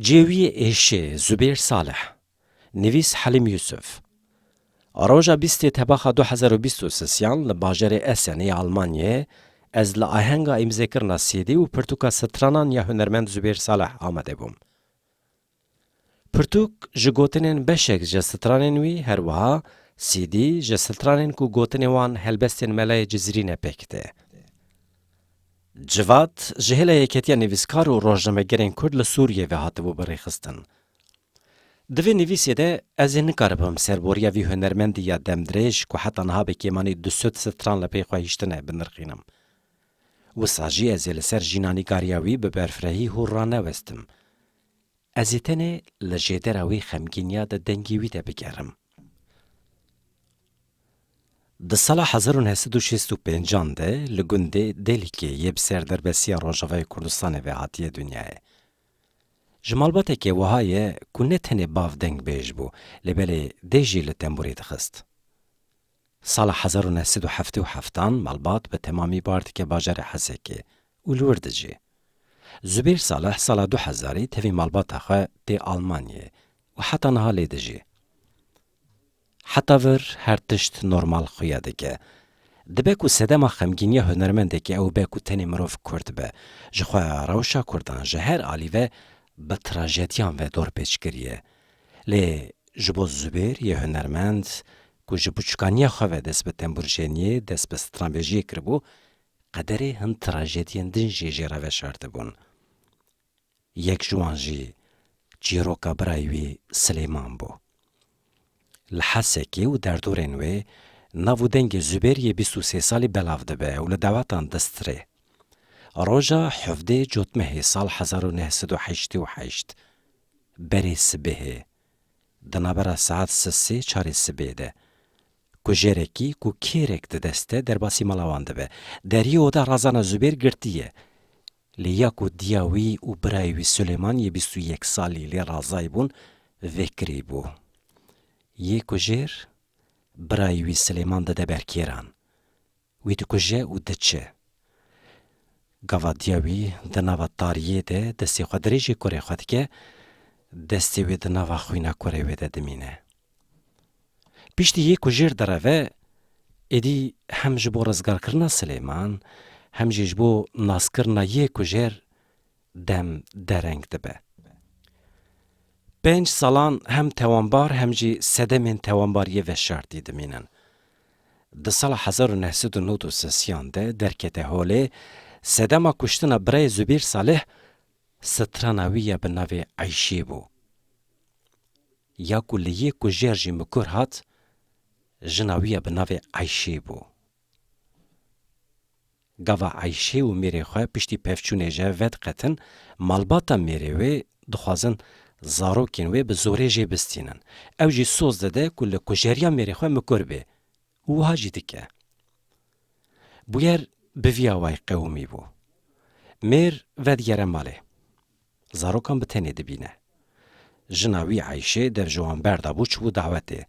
Cêwiyê êşê Zubêr Salih Nivîs Helîm Yusuf Roja bîstê tebaxa du hezar û bîst û sisiyan li bajarê Essenê ya Almanyayê ez li ahenga îmzêkirina CD û pirtûka stranan ya hunermend Zubêr Salih amade bûm. Pirtûk ji gotinên beşek ji stranên wî her wiha CD ji stranên ku gotinê wan helbestên melayê Cizîrî ne pêk tê. Civat ji hêla Yeketiya Nivîskar û Rojnamegerên Kurd li Sûriyê ve hatibû birêxistin. Di vê nivîsê de ez ê nikaribim serboriya vî hunermendî ya demdirêj ku heta niha bi kêmanî du sed stran li pey xwe hiştine binirxînim. Wisa jî ez ê li ser jînanîgariya wî bi berfirehî hûr ranewestim. Ez ê tenê li jêdera wê xemgîniya de dengê wî te bigerim. Di sala hezar û neh sed û şêst û pênc an de li gundê Dêlkê yê bi ser derbesiya Rojava yê Kurdistanê ve hatiye dinyayê. Ji malbateke wiha ye ku ne tenê bav dengbêj bû lê belê dê jî li tembûrê dixist. Sala hezar û neh sed û heftê û heftan malbat bi temamî bar dike bajarê Hesekê û li wir dijî. Zubêr Saleh sala du hezarî tevî malbata xwe tê Almanyê û heta niha lê dijî. Heta vir her tişt normal xuya dike. Dibe ku sedema xemgîniya hunermendekî ew be ku tenê mirov kurd be. Ji xwe rewşa kurdan ji her alî ve bi trajediyan ve dorpêç kiriye. Lê ji bo Zubêr yê hunermend ku ji buçikaniya xwe ve dest bi temburjeniyê, dest bi stranbêjiyê kiribû, qederê hin trajediyên din jî jê re veşartibûn. Yek ji wan jî çîroka birayê wî Silêman bû. Li Hesekê û derdorên wê nav û dengê Zubêr yê bîst û sê salî belav dibe û li dawetan distirê. Roja hevdê Cotmehê sal hezar û neh sed û heştê û heşt, berê sibehê, Di navbera saet sisê çarê sibê de kujerekî ku kêrek di deste derbasî mala wan dibe. Deriyê oda Razana Zubêr girtî ye. Lê ya ku diya wî û birayê wî Sulêman yê bîst û yek salî lê razayî bûn vekirî bû. Yê kujêr birayê wî Silêman dide ber kêran. Wî dikuje û diçe. Gavadiya wî di nava tariyê de destê xwe dirêjê kurê xwe dike, destê wê di nava xwîna kurê wê de dimîne. Piştî yê ku jêr direve, êdî hem ji bo rizgarkirina Silêman, hem jî ji bo naskirina yê ku jêr dem dereng dibe. Pênc salan hem tewanbar hem jî sedemên tewanbariyê veşartî dimînin. Di sala hezar û neh sed û nod û sesiyan de derkete holê, sedema kuştina birayê Zubîr Salih strana wî ya bi navê Eyşî bû. Ya ku li yê kujêr jî mikur hat, jina wî ya bi navê Eyşî bû. Gava Eyşê û mêrê xwe piştî pevçûnê je vediqetin, malbata mêrê wê dixwazin zarokên wê bi zorê jê bistînin. Ew jî soz dide ku li kujeriya mêrê xwe mikur bê û wiha jî dike. Bûyer bi vî awayî qewimî bû. Mêr vedigere malê. Zarokan bi tenê dibîne. Jina wî Eyşê dev ji wan berda bû çibû dawetê.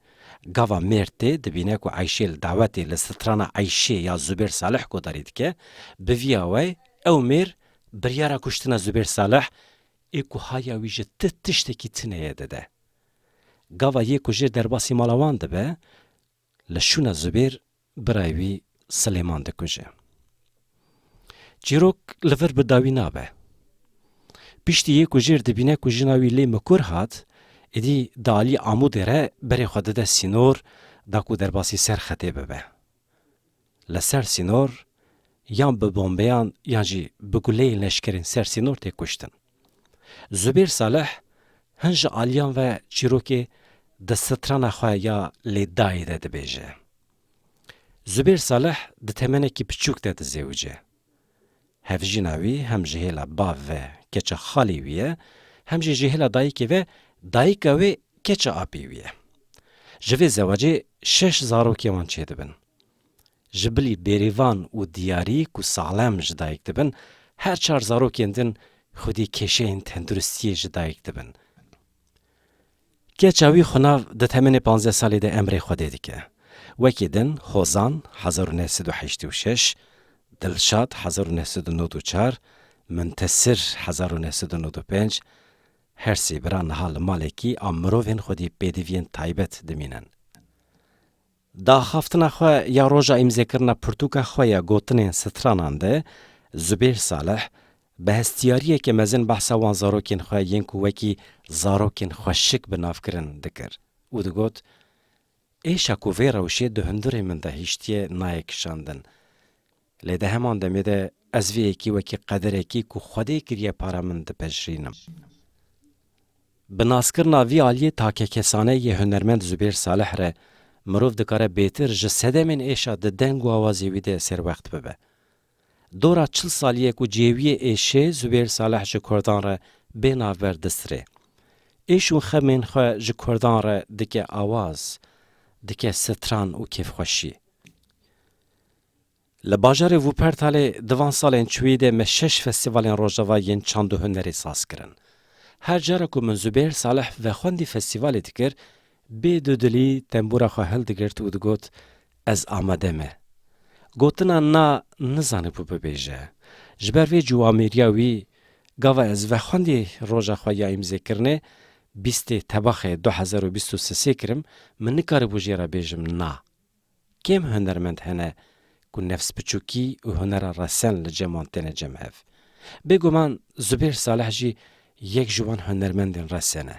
Gava mêrd tê dibîne ku Eyşê li dawetê li strana Eyşê ya Zubêr Salih guhdarî dike. Bi viya we ew mêr biryara kuştina Zubêr Salih ê ku haya wî ji ti tiştekî tineye dide. Gava yê ku jê derbasî mala wan dibe Li Şûna Zubêr birayê wî Silêman dikuje. Çîrok li vir bi dawî nabe. Piştî yê ku jêr dibîne ku jina wî lê mikur hat, êdî di aliyê Amûdê re berê xwe dide sînor da ku derbasî ser xetê bibe. li ser sînor yan bi bombeyan yan jî bi guleyên leşkerên ser sînor tê kuştin. Zubêr Salih hin ji aliyan ve çîrokê di strana xwe ya Lê Dayê de dibêje. Zubêr Salih di temenekî piçûk de dizêwice. Hevjîna wî hem ji hêla bav ve keça xalê wî ye, hem jî ji hêla dayikê ve dayika wê keça apê wî ye. Ji vê zewacê şeş zarokên wan çêdibin. Ji bilî bêrîvan û diyarî ku salem ji dayik dibin, her çar zarokên din xwedî kêşeyên tenduristiyê ji dayik dibin. Keça wî xwe nav di temenê panzdeh salî de emrê Xwedê dike. Wekî din, Hozan, hezar û neh sed û heştê û şeş, Dilşad, hezar û neh sed û nod û çar, Muntesir, hezar û neh sed û nod û pênc, her sê bira niha li malekî a mirovên xwedî pêdiviyên taybet dimînin. Di axaftina xwe ya roja îmzêkirina pirtûka xwe ya gotinên stranan de Zubêr Salih bi hestiyariyekê mezin behsa wan zarokên xwe yên ku wekî zarokên xweşik bi nav kirin dikir û digot, Êşa ku vê rewşê di hundirê min de hiştiye nayê kişandin. Lê di heman demê de ez vê yekê wekî qederekî ku Xwedê kiriye para min dipejirînim. Bi naskirina vî aliyê takekesane yê hunermend Zubêr Salih re mirov dikare bêtir ji sedemên êşa di deng û awazê wî de serwext bibe. Dora çil salî ye ku cêwiyê êşê Zubêr Salih ji kurdan re bê navber distirê. Êş û xemên xwe ji kurdan re dike awaz, dike stran û kêfxweşî. Li bajarê Wuppertalê di van salên çûyî de me şeş festîvalên Rojava yên çand û hunerê saz kirin. Her cara ku min Zubêr Salih vexwendî festîvalê dikir, bê dudilî tembûra xwe hildigirt û digot, Ez amade me. Gotina na nizanibû bibêje. Ji ber vê ciwamêriya wî, gava ez vexwendî roja xwe ya îmzêkirinê, bîstê tebaxê du hezar û bîst û sisê kirim, min nikaribû jê re bêjim na. Kêm hunermend hene ku nefsbiçûkî û hunera resen li cem wan têne cemhev. Bêguman Zubêr Saleh jî yek ji wan hunermendên resen e.